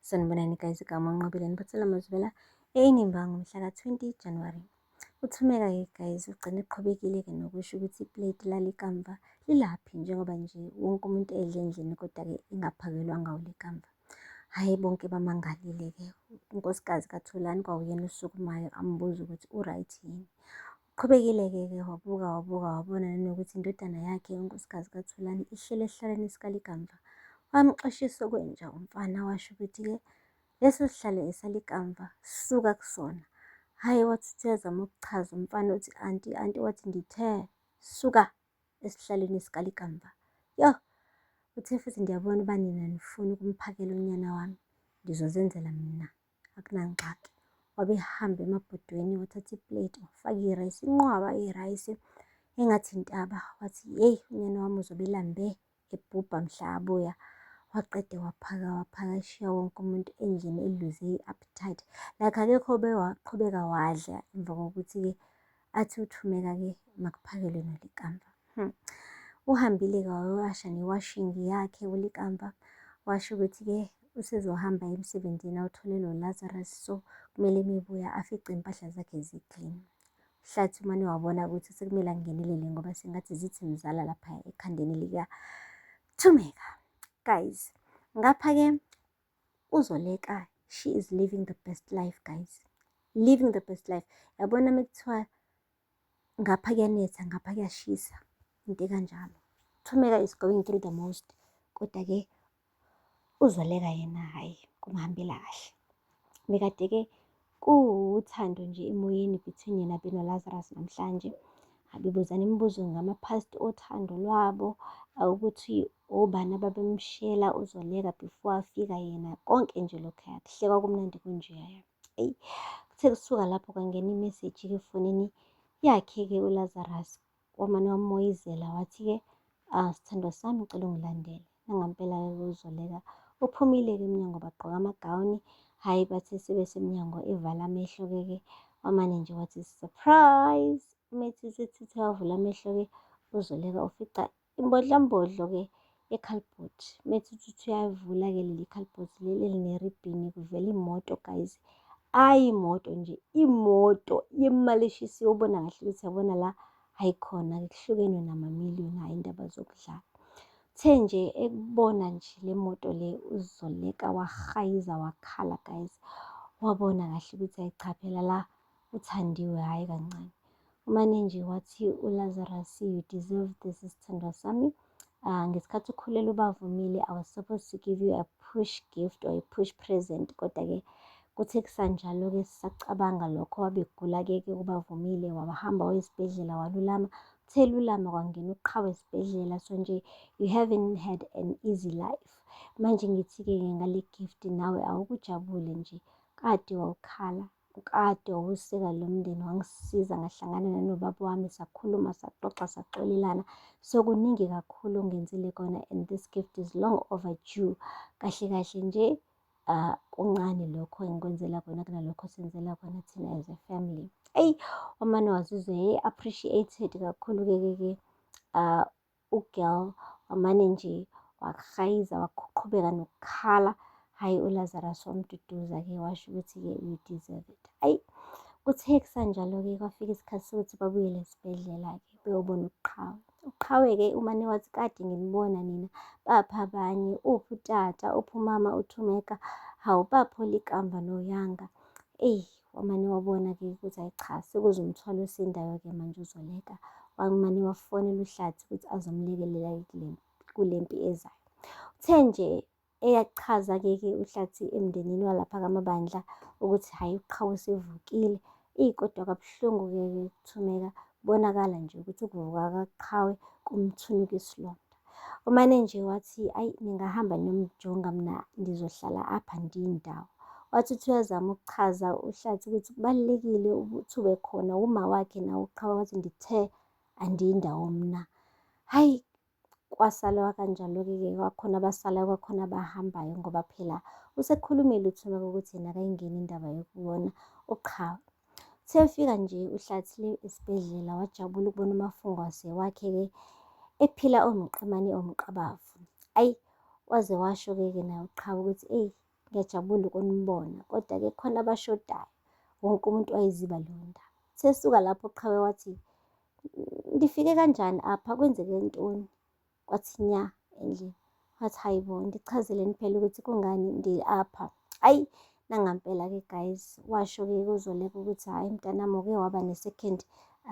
Sanibonani guys, igama uNqobile Niphathela Mazwela eyinimba ngomhlaka 20 January. Uthumeka-ke guys ugcine eqhubekile-ke nokusho ukuthi iplate lalikamva lilaphi njengoba nje wonke umuntu edle endlini kodwa-ke ingaphakelwanga ulikamva. Hhayi bonke bamangalile-ke unkosikazi kaThulani kwawuyena osukumayo ambuza ukuthi u-right yini. Qhubekile-ke ke wabuka wabuka wabona nanokuthi indodana yakhe unkosikazi kaThulani ihleli esihlalweni sikalikamva. Wamxoshisa okwenja umfana washo ukuthi-ke leso sihlalo esalikamva suka kusona. Hhayi wathi uthi uyazama ukuchaza umfana uthi anti anti wathi ngithe suka esihlalweni sikalikamva. Yoh! Uthe futhi ndiyabona uba nina nifuna ukumphakela unyana wami ngizozenzela mina. akunangxaki wabehamba emabhodweni wathatha iplate wafaka irayisi inqwaba irayisi engathi intaba wathi yeyi unyana wami uzobelambe ebhubha mhla abuya waqede waphaka waphaka eshiya wonke umuntu endlini eluze i-appetite like akekho bewaqhubeka wadla emva kokuthi-ke athi uthumeka-ke makuphakele nolikamva hmm. uhambile-ke wawasha newashingi yakhe ulikamva washo ukuthi-ke usezohamba emsebenzini awuthole lo lazarus so kumele mebuya afice impahla zakhe ziklini hlathi umane wabona ukuthi sekumele angenelele ngoba sengathi zithi mzala lapha ekhandeni lika thumeka guys ngapha-ke UZoleka she is living the best life guys. Living the best life. Yabona mekuthiwa ngapha kuyanetha ngapha kuyashisa into ekanjalo. Thumeka is going through the most kodwa ke uzoleka yena hhayi kumhambela kahle. Bekade-ke Kuwuthando nje emoyeni between yena Beno Lazarus namhlanje. Abebuzana imibuzo ngama-past othando lwabo, ukuthi obani ababemshela uZoleka before afika yena. Konke nje lokhuya kuhle kwakumnandi kunjeya. Eyi kuthe kusuka lapho kwangena imeseji-ke efonini yakhe-ke uLazarus. Wamane wamoyizela wathi-ke, ah, sithandwa sami ngicela ungilandele. Nangampela-ke kuzoleka. Uphumile-ke emnyango bagqoka amagawuni. Hhayi bathi sebesemnyango evala amehlo-ke ke wamane nje wathi surprise. Umethi sethithe wavula amehlo-ke uzoleka ufica imbodlambodlo-ke ekhalibhothi methuthuthi uyayivula ke leli khalibhothi leli elineribhini kuvela imoto guys ayi imoto nje imoto yemali eshisiwe ubona kahle ukuthi yabona la ayikhona ke kuhlukene namamiliyoni hhayi indaba zokudlala uthe nje ekubona nje le moto le uzoleka wahayiza wakhala guys wabona kahle ukuthi ayichaphela la uthandiwe hhayi kancane umane nje wathi ulazarus you deserve this sithandwa sami uh, ngesikhathi ukhulela ubavumile i was supposed to give you a push gift or a push present kodwa-ke kuthe kusanjalo-ke sisacabanga lokho wabegula-ke-ke ubavumile wabahamba wayesibhedlela walulama uthe lulama kwangena uqhawe esibhedlela so nje you haven't had an easy life manje ngithi-ke ngale gift nawe awukujabule nje kade wawukhala Ukade wawuseka lo mndeni wangisiza ngahlangana nanobaba wami sakhuluma saxoxa saxolelana so kuningi kakhulu ongenzile kona and this gift is long overdue kahle kahle nje uh, kuncane lokho engikwenzela kona kunalokho senzela kona thina as a family eyi omane wazizwe appreciated kakhulu-ke ke ke um Ugirl wamane nje wakuhayiza waqhubeka nokukhala hhayi uLazarus wamduduza ke washo ukuthi-ke you deserve it ayi kuthe kusanjalo-ke kwafika isikhathi sokuthi babuyele esibhedlela-ke beyobona uqhawe uqhawe-ke umane wathi kade nginibona nina bapha abanye uphi utata uphi umama uthumeka hawu baphola ikamva noyanga eyi Wamane wabona-ke ukuthi ayi cha sekuze umthwalo osindayo-ke manje uzoleka. Wamane wafonela uHlathi ukuthi azomlekelela kule mpi ezayo. Uthe nje eyachaza-ke ke uHlathi emndenini walapha kamabandla ukuthi hhayi uqhawe usevukile. Eyi kodwa kabuhlungu-ke kuthumeka kubonakala nje ukuthi ukuvuka kaqhawe kumthunuka isilonda. Umane nje wathi ayi ningahamba nomjonga mina ngizohlala apha ndindawo. Wathi uthi uyazama ukuchaza uhlathi ukuthi kubalulekile ukuthi ube khona uma wakhe nawo uqhaba wathi ngithe andiyindawo mna. Hayi kwasalwa kanjalo-ke ke kwakhona abasalayo kwakhona abahambayo ngoba phela usekhulumile uthumeka ukuthi yena akayingeni indaba yokubona uqhawe. Sefika nje uhlathile esibhedlela wajabula ukubona umafungwase wakhe-ke ephila omqemane omqabavu. Ayi waze washo-ke-ke naye uqhawe ukuthi eyi ngiyajabula ukunibona kodwa-ke khona abashodayo wonke umuntu wayeziba leyo ndaba. Sesuka lapho uqhawe wathi, ndifike kanjani apha kwenzeke ntoni? kwathi nya endlini wathi hayi bo ndichazeleni phela ukuthi kungani ndi-apha ayi nangampela-ke guys washo-ke kuzoleka ukuthi hhayi mntanami uke waba ne-second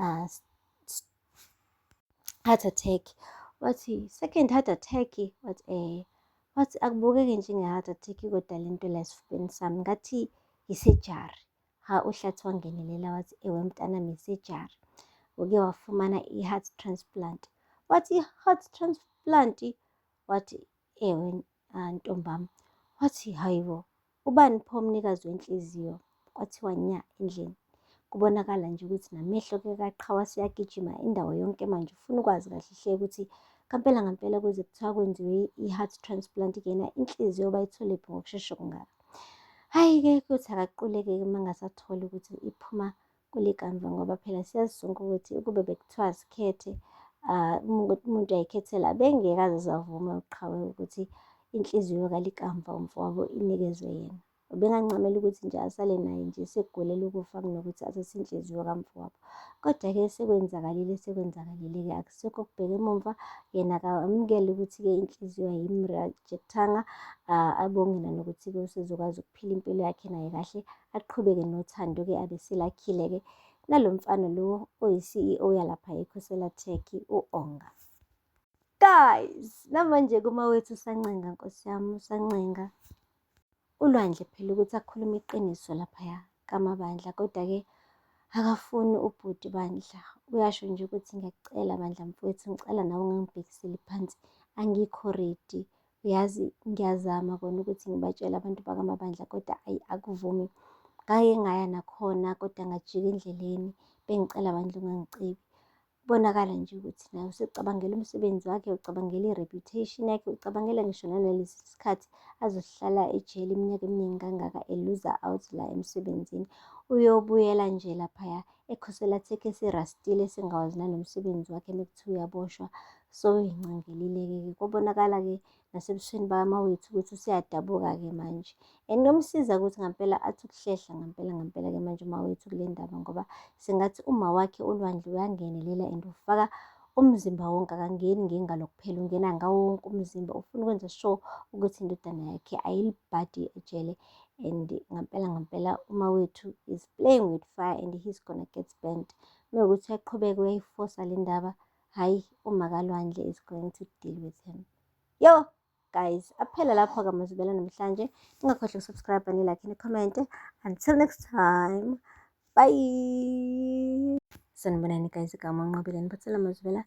uh, heart attack wathi second heart attack wathi eh wathi akubukeki njenge-heart attack kodwa le nto la esifubeni sami ngathi yisejari Ha uHlatsi wangenelela wathi, ewe mntanami sejari, uke wafumana i-heart transplant. Wathi, i-heart transplant? Wathi, ewe ah, ntombam. Wathi, hayibo, ubani pho umnikazi wenhliziyo? Kwathiwa nya endlini. Kubonakala nje ukuthi namehlo ke kaqhawa siyagijima indawo yonke manje ufuna ukwazi kahle hle ukuthi ngampela ngampela kuze kuthiwa kwenziwe i-heart transplant kuyena inhliziyo bayitholephi ngokushesha kungaka. Hhayi-ke kuyothi akaquleke-ke uma ngasatholi ukuthi iphuma kule kamva ngoba phela siyazi sonke ukuthi ukube bekuthiwa zikhethe ah, umuntu ayikhethela bengeke aze savume uqhawe ukuthi inhliziyo kalikamva umfowabo inikezwe yena ubengancamela ukuthi nje asale naye nje sekugulela ukufa kunokuthi athathe inhliziyo kamfowabo Kodwa-ke sekwenzakalile sekwenzakalile-ke akusekho kubheka emumva yena akamukele ukuthi-ke inhliziyo ayimrejectanga abonge nanokuthi-ke usezokwazi ukuphila impilo yakhe naye kahle aqhubeke nothando-ke abeselakhile-ke nalo mfana lo oyi-CEO yalapha ekhosela Tech u-Onga guys namanje kuma wethu usancenga nkosi yami usancenga uLwandle phela ukuthi akhulume iqiniso laphaya kamabandla kodwa-ke akafuni ubhuti bandla uyasho nje ukuthi ngiyakucela bandla mfowethu ngicela nawe ungangibhekiseli phansi angikho redi uyazi ngiyazama kona ukuthi ngibatshele abantu bakamabandla kodwa ayi akuvumi ngake ngaya nakhona kodwa ngajika endleleni bengicela bandla ungangicebi Kubonakala nje ukuthi naye usecabangela umsebenzi wakhe, ucabangela i-reputation yakhe, ucabangela ngisho nanalesi sikhathi azohlala ejele iminyaka eminingi kangaka eluza out la emsebenzini. Uyobuyela nje laphaya ekhosela thekhe esirastile esingawazi nanomsebenzi wakhe mekuthiwa uyaboshwa soyingcingelile-ke ke. Kobonakala-ke nasebusweni bakamawethu ukuthi useyadabuka-ke manje and kuyomsiza ukuthi ngampela athi ukuhlehla ngampela ngampela-ke manje umawethu kule ndaba ngoba sengathi uma wakhe olwandle uyangenelela and ufaka umzimba wonke akangeni ngengalo kuphela ungena ngawo wonke umzimba ufuna ukwenza sure ukuthi indodana yakhe ayilibhadi ejele and ngampela ngampela uma wethu is playing with fire and he's gonna get spent mewukuthi uyaqhubeka uyayifosa le ndaba hayi umakalwandle is going to deal with him yo guys aphela lapho-ke amazubela namhlanje ningakhohlwa ukusubscribe nilakhe nikhomente until next time bye sanibonani guys igama unqobile niphathela amazubela